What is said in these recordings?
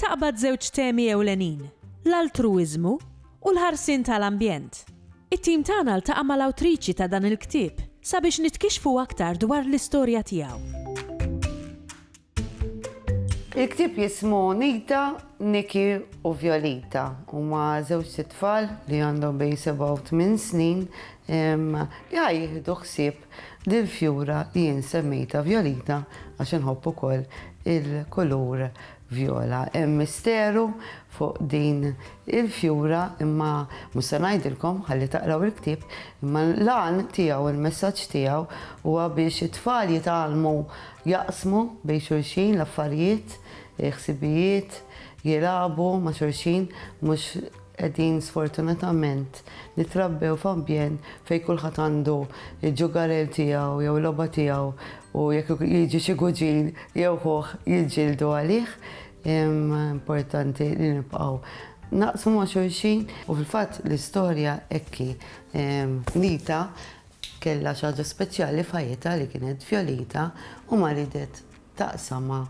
Taqbad żewġ temi ewlenin, l-altruwiżmu u l-ħarsien ta' l-ambjent. It-tim tagħna ltaqa' ma' l-awtriċi ta' dan il-ktieb sabiex nitkixxfu aktar dwar l-istorja tiegħu. Il-ktieb jismu Nita, Niki u Violita. Huma żewġt itfal li għandhom bejn sebgħa u tmien snin li ħa jieħdu ħsieb lill-fjura li jien semmejtha Violita għax inħobb ukoll il-kulur Viola, Hemm misteru fuq din il-fjura imma mhux se ngħidilkom ħalli taqraw il-ktieb imma l-għan tiegħu, il-messaġġ tiegħu huwa biex it-tfal jitgħallmu jaqsmu bejn xulxin l-affarijiet, il-ħsibijiet, jilagħbu ma' xulxin mhux Qegħdin sfortunatament nitrabbew f'ambjent fejn kulħadd għandu l-ġugarell tiegħu jew il-logħba tiegħu u jekk jiġi xi kuġin jew ħuh jiġġieldu għalih. Imma importanti li nibqgħu naqsmu ma' xulxin u fil-fatt l-istorja hekk hi. Nita kellha xi ħaġa speċjali f'ħajjitha li kienet Fjolita u ma ridetx taqsamha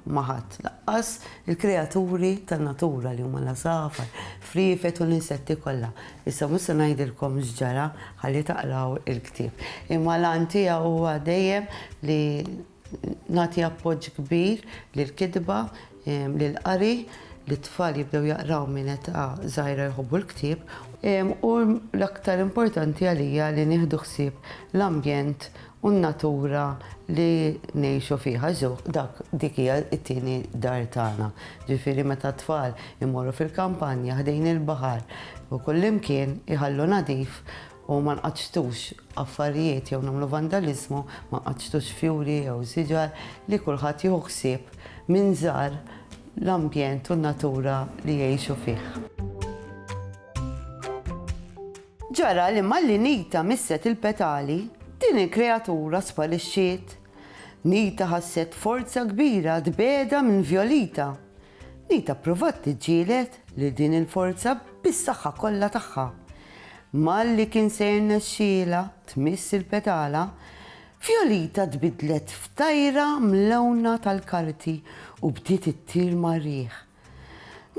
ma' ħadd, lanqas il-kreaturi tan-natura li huma l-għasafar, friefet u l-insetti kollha. Issa mhux se ngħidilkom x'ġara, ħalli taqraw il-ktieb. Imma l-għan tiegħu huwa dejjem li nagħti appoġġ kbir lill-kitba Lill-qari, li t-tfal jibdew jaqraw minn età żgħira jħobbu l-ktieb, u l-aktar importanti għalija li nieħdu ħsieb l-ambjent u n-natura li ngħixu fiha, żewq dak dik hija t-tieni dar tagħna. Ġifieri meta t-tfal imorru fil-kampanja ħdejn il-baħar u kullimkien iħallu nadif u ma nqaċċtux affarijiet jew nagħmlu vandaliżmu, ma nqaċċtux fjuri jew siġar, li kulħadd jieħu ħsieb minn żgħar l-ambjent u n-natura li jgħixu fih. Ġara li malli Nita misset il-petali, din il-kreatura sparixxiet. Nita ħasset forza kbira tbiegħedha minn Violita, Li tapprovat tiġġieled lil din il-forza bis-saħħa kollha tagħha. Malli kien se jirnexxielha tmiss il-petala, Fjolita tbiddlet f'tajra mlewna tal-karti u bdiet ittir mar-riħ.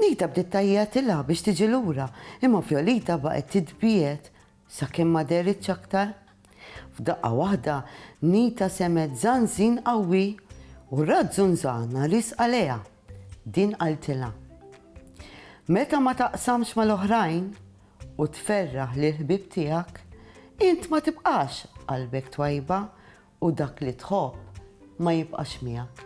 Nita bdiet tgħajjatilha biex tiġi lura, imma Fjolita baqgħet titbiegħed Sakemm ma dehritx aktar, f'daqqa waħda Nita semgħet żanżin qawwi u rat żunżana riżqa lejha. Din qaltilha, Meta ma taqsamx mal-oħrajn u tferraħ lill-ħbieb tiegħek, int ma tibqax qalbek twajba u dak li tħobb ma jibqax miegħek.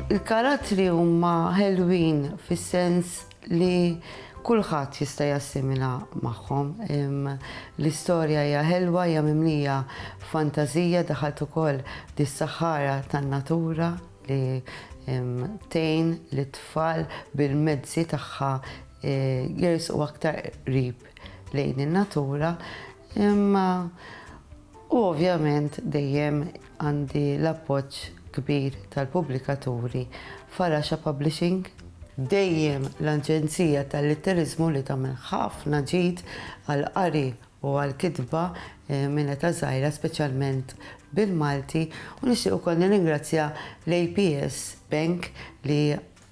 Il-karattri huma ħelwin fis-sens li kulħadd jista' jassimila magħhom. L-istorja hija ħelwa, hija mimlija fantażija daħalt ukoll dis-saħħara tan-natura li tgħin lit-tfal bil-mezzi tagħha e, jersqu aktar qrib lejn in-natura. Imma u ovvjament dejjem Għandi l-appoġġ kbir tal-pubblikaturi Faraxa Publishing. Dejjem l-Aġenzija tal-Litteriżmu li tagħmel ħafna ġid għall-qari u għall-kitba minn età żgħira speċjalment bil-Malti u nixtieq ukoll nirringrazzja l-APS Bank li